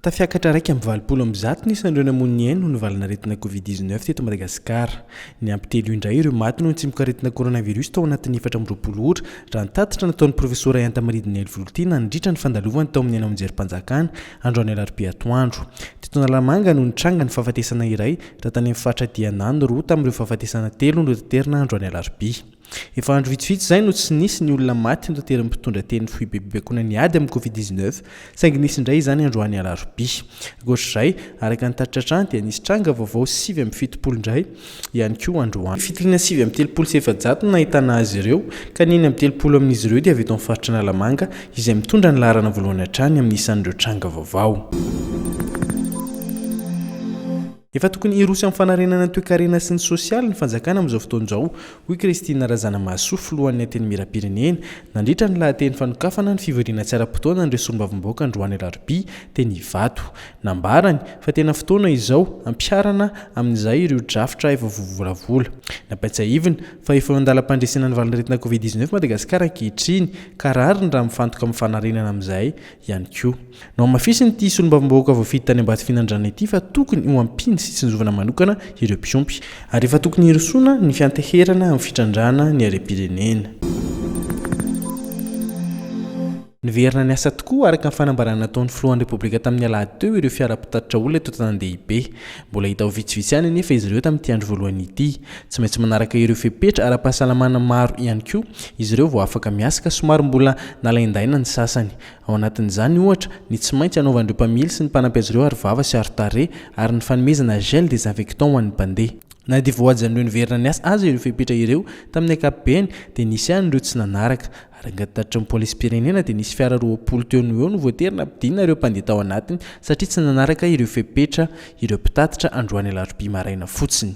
Tafiakatra iraika amby valopolo amby zato ny isan'ireo namoy ny ainy noho ny valan'aretina Covid 19 teto Madagasikara. Niampy telo indray ireo maty noho ny tsimokaretina coronavirus tao anatin'ny efatra amby roapolo ora, raha ny tatitra nataon'ny Profesora Iantamaridina Helvoloty nandritra ny fandalovany tao amin'ny haino aman-jerim-panjakana, androany alarobia atoandro. Teto Analamanga no nitranga ny fahafatesana iray, raha tany amin'ny faritra Dianà no roa tamin'ireo fahafatesana telo notaterina androany alarobia. Efa andro vitsivitsy izay no tsy nisy ny olona maty notery ny mpitondra teny ny foibebebekoana ny ady amin'ny Covid dix neuf saingy nisy indray izany androany alarobia. Ankoatra izay, araka ny tatitra hatrany dia nisy tranga vaovao sivy amby fitopolo indray ihany koa androany. Fitiliana sivy amby telopolo sy efajato no nahitana azy ireo ka ny enina amby telopolo amin'izy ireo dia avy eto amin'ny faritra Analamanga izay mitondra ny laharana voalohany hatrany amin'ny isan'ireo tranga vaovao. Efa tokony hiroso amin'ny fanarenana ny toekarena sy ny sosialy ny fanjakana amin'izao fotoana izao, hoy Christine Razanamahasoa, filohan'ny Antenimierampirenena, nandritra ny lahateny fanokafana ny fivoriana tsy ara-potoana an'ireo solombavambahoaka androany alarobia, teny Ivato. Nambarany, fa tena fotoana izao, hampiharana amin'izay ireo drafitra efa voavolavola. Nampiatsahiviny, fa efa eo an-dalam-pandresena ny valan'aretina Covid dix-neuf Madagasikara ankehitriny, ka rariny raha mifantoka amin'ny fanarenana amin'izay ihany koa. Nohamafisin'ity solombavambahoaka voafidy tany Ambatofinandrana ity fa tokony ho ampiana sy tsinjovana manokana ireo mpiompy, ary efa tokony hirosoana ny fianteherana amin'ny fitrandrahana ny harem-pirenena. Niverina niasa tokoa araka ny fanambarana nataon'ny filohan'ny Repoblika tamin'ny alahady teo ireo fiara mpitatitra olona eto an-tanàn-dehibe. Mbola hita ho vitsivitsy ihany anefa izy ireo tamin'ity andro voalohany ity. Tsy maintsy manaraka ireo fepetra ara-pahasalamana maro ihany koa izy ireo vao afaka miasa ka somary mbola nalaindaina ny sasany. Ao anatin'izany, ohatra, ny tsy maintsy anaovan'ireo mpamily sy ny mpanampy azy ireo arovava sy arotarehy ary ny fanomezana gel désinfectant ho an'ny mpandeha. Na dia voajanon'ireo niverina niasa aza ireo fepetra ireo, tamin'ny ankapobeny dia nisy ihany ireo tsy nanaraka. Araka ny tatitry ny polisim-pirenena dia nisy fiara roapolo teo no eo no voatery nampidinina ireo mpandeha tao anatiny satria tsy nanaraka ireo fepetra ireo mpitatitra androany alarobia maraina fotsiny.